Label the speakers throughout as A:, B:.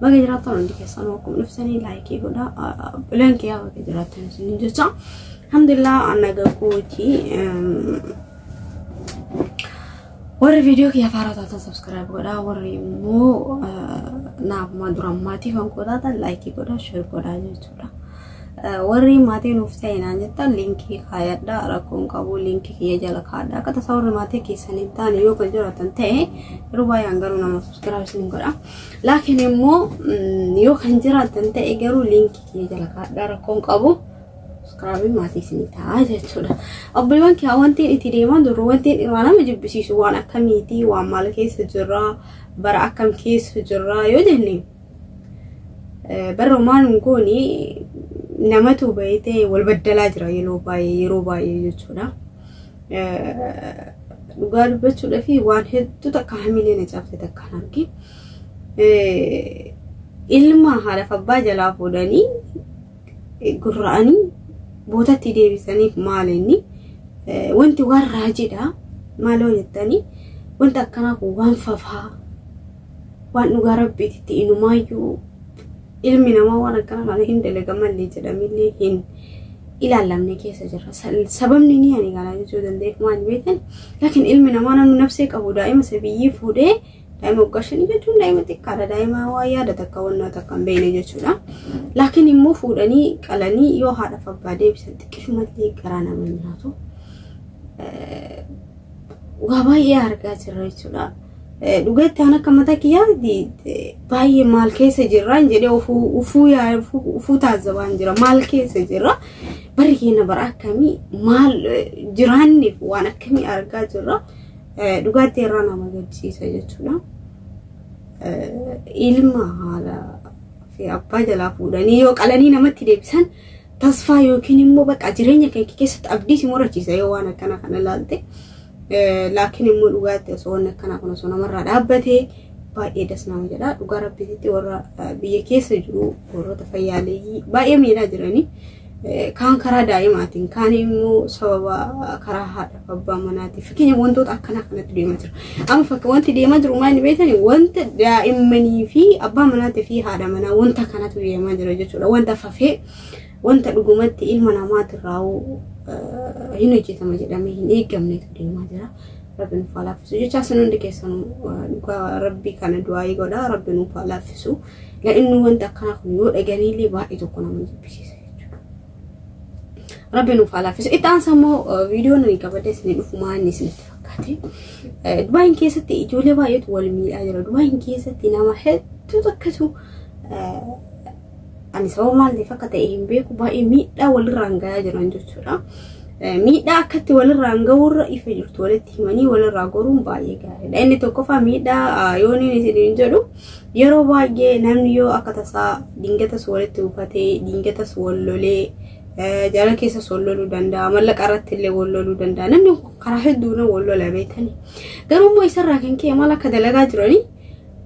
A: Baga jiraattan hundi keessanuu akkuma dhuftanii laayikii godha. Bileen kiyyaa baga jiraattan isin jecha. Alhamdulillah annaga kooti. Warri viidiyoo kiyya faaraa taatan sabskiraayib godha. Warri immoo naaf maa dura maatii kan koo taatan laayikii godha sheer godha jechuudha. Warri maatii nuuf ta'e naan jettan liinkii kaayadha rakkoon qabu liinkii kiyya jala kaadha. Akka tasaa warri maatii keessanii ta'an yoo kan jiraatan ta'e yeroo baay'ee hangaruu nama sabskiraayib isin godha. Laakiin immoo yoo kan jiraatan ta'e garuu liinkii kiyya jala kaadhaa rakkoon qabu subscribe maatii isinii ta'a jechuudha. Obboleewwan kiyyaa wanti itti deemaa jirru wanti dhiiraa nama jibbisiisu waan akkamiiti waan maal keessa jirra bara akkam keessa jirra yoo jenne barra maal hin goone namatu bayitee wal baddalaa jira yeroo baay'ee yeroo baay'ee jechuudha. dhugaa dubbachuudhaaf waan hedduu takka hamilee na cabse takka hin argin. Ilma haadhaaf abbaa jalaa fuudhanii gurra'anii bootatti deebisaniif maal inni wanti waan raajiidha maaloo jettanii wanti akkanaa kun waan fafaa waan dhugaa rabbiitti inumaayyuu Ilmi namaa waan akkana kana hin dalaga malee jedhamillee hin ilaallamne keessa jirra. Sababni ni ani kana jechuu danda'eef maal beektan? Laakiin ilmi namaa namni nafsee qabu daa'ima sabiyyii fuudhee daa'ima waggaa shanii jechuun daa'ima xiqqaadha. Daa'ima waa yaada takka wannaa takka hin beekne jechuudha. Laakiin immoo fuudhanii qalanii yoo haadhaaf abbaa deebisan xiqqishumallee garaa nama nyaatu. waa baay'ee argaa jirra jechuudha. Dhugaatti aan akka mataa kiyyaatti baay'ee maal keessa jirraan jedhee ufuu yaa ufuu taasisaan jira maal keessa jirra barri keenya bara akkamii maal jiraanneef waan akkamii argaa jirra dhugaatti irraa nama gaddisiisa jechuudha. Ilma haala fi abbaa jalaa fuudhanii yoo qalanii namatti deebisan tasfaa yookiin immoo bakka jireenya kee keessatti abdii si murachiisa yoo waan akkana kana ilaalte. Laakiin immoo dhugaatti osoo waan akkanaa kun osoo namarraa dhaabbatee baay'ee das nama jedha. Dhugaa rabbiitti warra biyya keessa jiru warroota fayyaaleeyyii baay'ee miidhaa jiranii kaan karaa daa'imaatiin kaan immoo sababa karaa haadha abbaa manaatiif fakkeenya wantoota akkanaa kanatti deemaa jira. Amma fakka wanti deemaa jiru maal inni beektan wanta daa'immanii fi abbaa manaatii fi haadha manaa wanta kanatu deemaa jira jechuudha. Wanta fafee wanta dhugumatti ilma namaatirraa hin hojjetama jedhamee hin eegamnetu deemaa jira. Rabbi nuuf haa laaffisu jecha isin hundi keessan dhugaa rabbi kana du'aayii godha rabbi nuuf haa laaffisu. La'inni wanta akkanaa kun yoo dhaganiillee baay'ee tokko nama jibbisiisa. Rabbi nuuf haa laaffisu. Itti aansa immoo viidiyoo nuyi qabadee isin dhufu maanni isinitti fakkaate. Dubaayin keessatti ijoollee baay'eetu wal miidhaa jira. Dubaayin keessatti nama hedduutu akkatu ani sababa maal ta'eef akka ta'e hin beeku baay'ee miidhaa walirraan gahaa jiran jechuudha. Miidhaa akkatti walirraan ga'uurra ifa jirtu walitti himanii walirraa goruun baay'ee gaariidha. Inni tokkoffaa miidhaa yooniin isiniin jedhu Yeroo baay'ee namni yoo akka tasaa dingatas walitti bufatee, dingatas wal lolee, jaalala keessas wal loluu danda'a, mallaqa irratti illee wal loluu danda'a. Namni karaa hedduun wal lola beekani. Garuu immoo isarraa kan ka'e maal akka dalagaa jiranii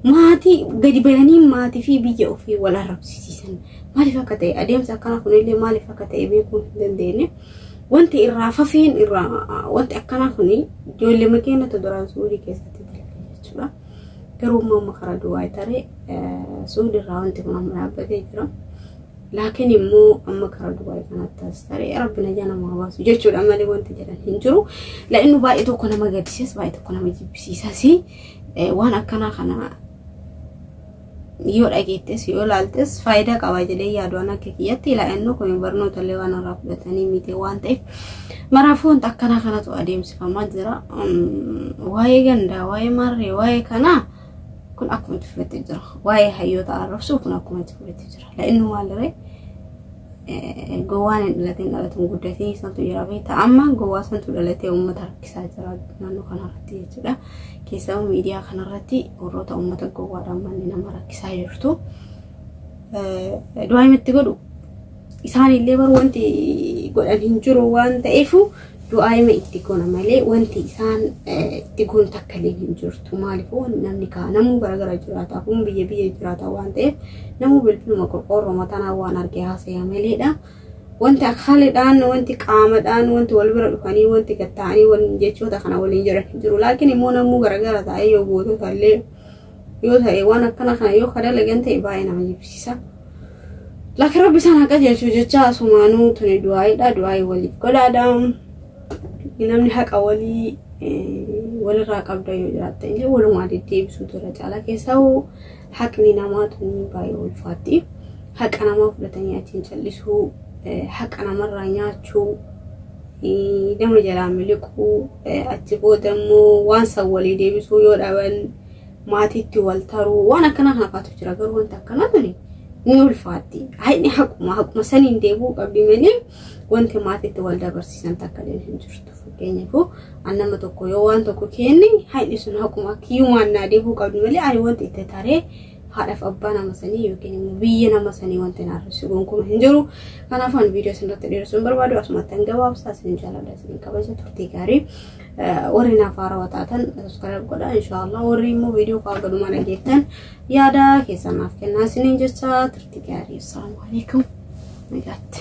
A: maatii gadi bayanii maatii fi biyya ofii wal arrabsiisan. Maaliif akka ta'e adeemsa akkanaa kunillee maaliif akka ta'e beekuu hin dandeenye. Wanti irraa fafeen irraa wanti akkanaa kun ijoollee makeenya duraan suudii keessatti dalage jechuudha. Garuu immoo amma karaa duwwaa taree suudi irraa wanti kun amma dhaabbatee jira. Laakiin immoo amma karaa duwwaa kanatti as taree rabbi najaa nama hawaasu jechuudha malee wanti jedhan hin jiru. La'innu baay'ee tokko nama gaddisiis baay'ee tokko nama jibbisiisas waan akkanaa kana yoo dhageettes yoo ilaaltes faayidaa qaba jedhee yaadu an akka kiyyatti ilaa'annoo kun barnoota illee waan irraa fudhatanii miti waan ta'eef maraafuu wanta akkanaa kanatu adeemsifamaa jira waa'ee gandaa waa'ee marree waa'ee kanaa kun akkuma itti fufetti jira waa'ee hayyoota arrabsuu kun akkuma itti fufetti jira la'innu maaliree Gowwaan hin dhalatin dhalatuun guddatee santu jira beekta. Amma gowwaa santu dhalatee uummata rakkisaa jira naannoo kanarratti jechuudha. Keessaa miidiyaa kanarratti warroota uummata gowwaadhaan manni nama rakkisaa jirtu. Du'aa himatti godhu isaanillee bar wanti godhan hin jiru waan ta'eef du'aa'ima itti goona malee wanti isaan itti goonu takka illee hin jirtu. Maaliifuu namni kaa namuu garaagara jiraata kun biyya biyya jiraata waan ta'eef namuu bilbiluma qorqoorroo matanaa waan arge haasaya maleedha. Wanti akaalidhaan wanti qaamadhaan wanti wal bira dhufanii wanti gatta'anii wal jechoota kana waliin jiran hin jiru. Laakiin immoo namuu garaagara taa'ee yoo gootota illee yoo ta'e waan akkana kana yoo ka dalagan ta'e baay'ee nama jibbisiisa. Laakiin rabbi isaan haa qajeelchu jecha asumaanuu tuni du'aayiidha du'aayii waliif godhaadha. Namni haqa walii walirraa qabda yoo jiraatte illee walumaa deddeebisuutu irra caalaa keessaa haqni namaa tuni baay'ee ulfaatti. Haqa namaa fudhatanii achiin callisuu haqa namarraa nyaachuu nama jalaa miliquu achi booda immoo waan san walii deebisuu yoo dhaban maatiitti wal taruu waan akkanaa haafaatu jira garuu wanta akkanaa tuni ni ulfaatti haadhi haquma haquma saniin deebuu qabdi malee wanti maatiitti wal dabarsiisan takka illee hin jirtu fakkeenyaaf an nama tokko yoo waan tokko kenne haadhi sun haquma kiyyumaan naa deebuu qabdi malee ani wanti itti taree haadhaaf abbaa nama sanii yookiin immoo biyya nama sanii wanti naarressu gonkumaa hin jiru. Kanaafuu ani viidiyoo isinirratti dheeressuu hin barbaadu asumatti an gabaabsa isin jaalladha isin kabaja turtii gaarii. Warri naaf haarawaa taatan subscribe godha inshaallah warri immoo viidiyoo koo galumaa dhageettan yaada keessan naaf kennaa isiniin jecha turtii gaarii. Assalaamu alaikum. Nagaatti.